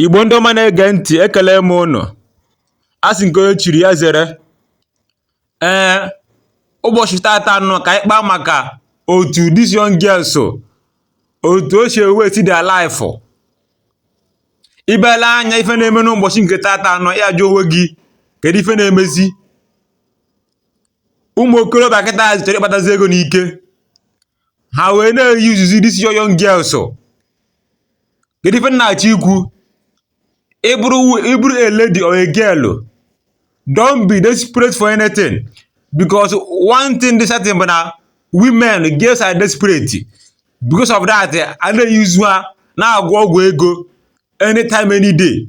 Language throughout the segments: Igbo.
Igbo ndị ọma na-ege ntị ekele m ụnụ a sị nke onye chiri ya zere ee ụbọchị tata nụ ka anyị kpaa maka otu these young girls otu o si ewesti their life ibele anya ife na-eme n'ụbọchị nke tata nụ ị ya-ajụ onwe gị kedu ife na-emezi ụmụ okorobịa kịtazị chọrọ ịkpatazi ego n'ike ha wee na-eyuzuzi these yo young girls kedu ife m na-achọ ikwu ị bụrụ a lady or a girl don't be desperate for anything because one thing dị certain bụ na women girls are desperate because of that a na-eyuzu ha na-agwọ ọgwụ ego anytime any day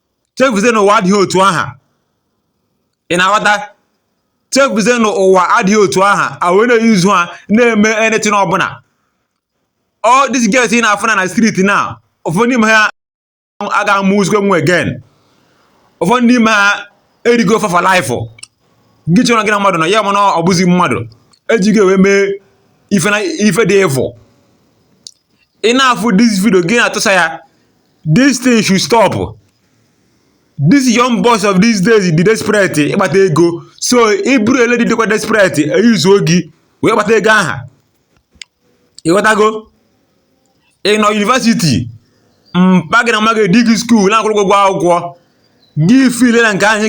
chefuzie na ụwa adịghị otu aha ị na-aghọta chefuzie na ụwa adịghị otu aha a wee na-eyuzu ha na-eme anything ọbụla all these girls ị na-afụ na na street na ụfọdụ n'ime ha aga amụzikwa nwa again ụfọdụ n'ime ha e rigo fa for life gị chee na gị na mmadụ nọ ya mana ọ bụzi mmadụ e jigo wee mee ife dị evil ị na-afụ this video gị na-atụsa ya This thing should stop. These young boys of these days dị desperate ịkpata ego so ị bụrụ a lady dịkwa desperate e yuzuo gị wee kpata ego aha ị ghọtago ị nọ university mpa gị na mma gị tii gị school na-akwụrụ ụgwọ akwụkwọ gị feel na nke anyị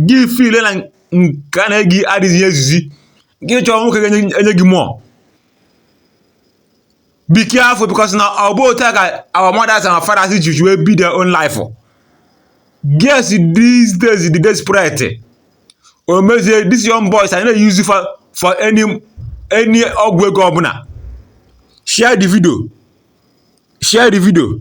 gị feel na nke a na-enye gị adịghị ezuzi gị chọọ nwoke ga-enye gị more be careful because na ọ bụ otu a ka our mothers and our fathers ji wee bie their own life girls these days dị desperate o mezie these young boys ana-eyuzi fa for any any ọgwụ ego ọbụla share the video share the video